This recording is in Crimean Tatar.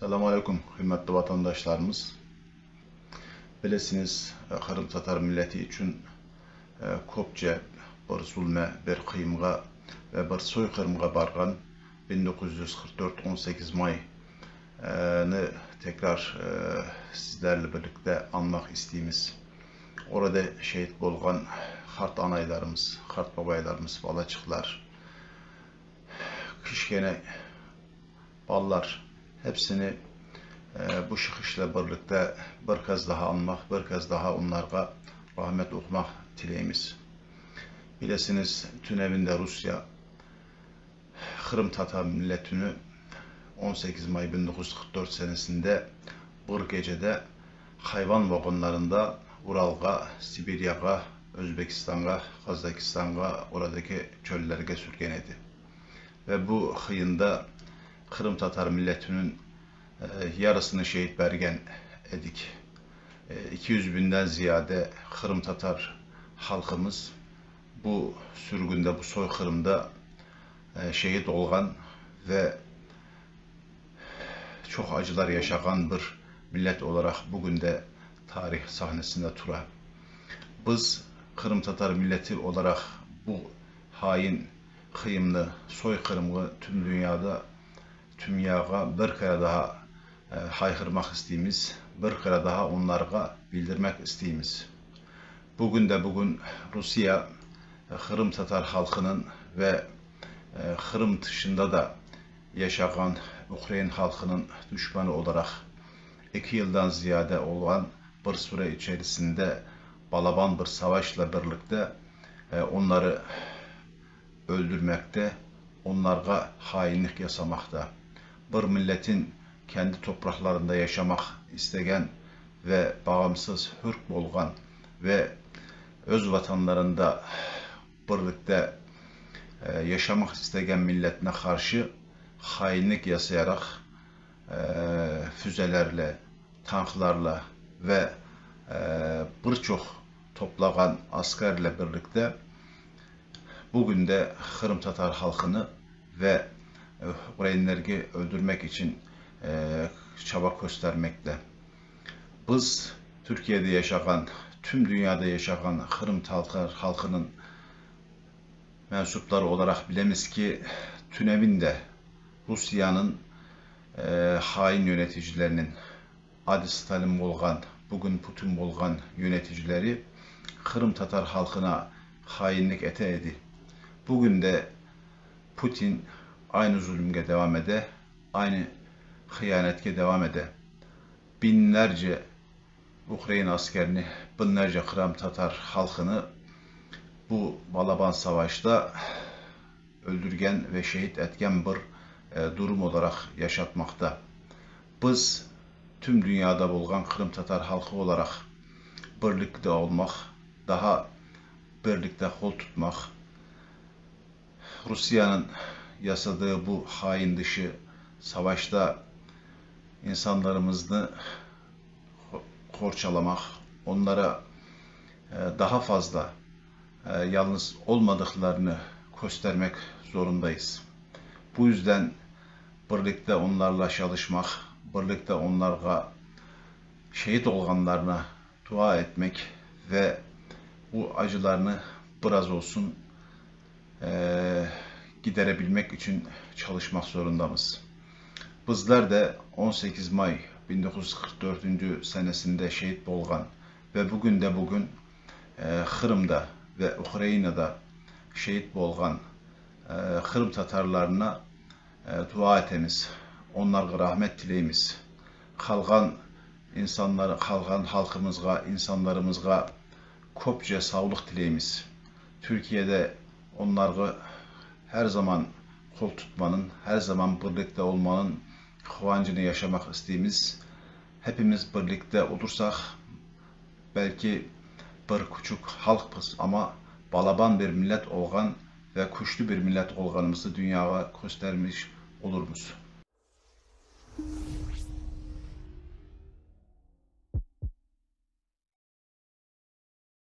Selam aleyküm, hürmetli vatandaşlarımız! Bilesiñiz, qırımtatar milleti içün köpçe bir zulme, bir qıyımğa ve bir soyqırımğa barğan bin doquz yüz qırq dört on sekiz may nı tekrar sizlerle birlikte añmaq isteymiz. Orada şehit bolğan qart anaylarımız, qart babaylarımız, balaçıqlar, kişkene Balalar, hepsini bu şıhışla birlikte bir kez daha anmaq, bir kez daha onlarğa rahmet oqumaq tileymiz. Bilesiniz, tünevinde Rusiya Qırımtatar milletini on sekiz may bin doquz yüz qırq dört senesinde bir gecede hayvan vagonlarında Uralğa, Sibiryağa, Özbekistanğa, Qazakistanğa, oradaki çöllerge sürgen edi. Ve bu hıyında qırımtatar milletiniñ yarısını şehit bergen edik. İki yüz biñden ziyade qırımtatar halqımız bu sürgünde, bu soyqırımda şehit olğan ve çoq acılar yaşağan bir millet olaraq bugün de tarih sahnesinde tura. Biz qırımtatar milleti olaraq bu hain Qırımnı, soyqırımğı tüm dünyada, tümyağa bir kere daha hayqırmaq isteymiz, bir kere daha onlarğa bildirmek isteymiz. Bugün de bugün Rusiye qırımtatar halqınıñ ve Qırım tışında da yaşağan ukrain halqınıñ düşmanı olaraq eki yıldan ziyade olğan bir süre içerisinde balaban bir savaşla birlikte Onları öldürmekte, onlarğa hainlik yasamaqta, bir milletin kendi topraqlarında yaşamaq istegen ve bağımsız, hür bolğan ve öz vatanlarında birlikte yaşamaq istegen milletine qarşı hainlik yasayaraq füzelerle, tanklarla ve bir çoq toplağan askerle birlikte bugün de qırımtatar halqını ve ukrainlergi öldürmek içün çaba köstermekte. Biz Türkiyede yaşağan, tüm dünyada yaşağan qırımtatar halqınıñ mensupları olaraq bilemiz ki, tünemin de Rusiyanıñ hain yöneticileriniñ, Adis talim olğan, bugün putin olğan yöneticileri qırımtatar halqına hainlik ete edi. Bugün de putin aynı zulümge devam ede, aynı hıyanetke devam ede. Biñlerce ukrain askerini, biñlerce qıramtatar halqını bu balaban savaşta öldürgen ve şehit etken bir durum olaraq yaşatmaqta. Biz, tüm dünyada bolğan qırımtatar halqı olaraq, birlikte olmaq, daha birlikte qol tutmaq, Rusiyanıñ yasadığı bu hain dışı savaşta insanlarımıznı qorçalamaq, onlara daha fazla yalnız olmadıqlarını köstermek zorundayız. Bu yüzden Birlikte onlarla çalışmaq, birlikte onlarğa şeet olğanlarına dua etmek ve bu acılarını biraz olsun giderebilmek içün çalışmaq zorundamız. Bizler de on sekiz may bir bin doquz yüz qırq dördüncü senesinde şeet bolğan ve bugün de bugün Qırımda ve Ukrainada şeet bolğan qırımtatarlarına Dua etemiz, onlarğa rahmet tileymiz. Qalğan insanlar, qalğan halqımızğa, insanlarımızğa köpçe savlıq tileymiz. Türkiyede onlarğa her zaman qol tutmanın, her zaman birlikte olmanın quvancını yaşamaq isteymiz. Hepimiz birlikte olursaq, belki bir küçük halqpız, amma balaban bir millet olğan ve küçlü bir millet olğanımızı dünyağa köstermiş olurmız.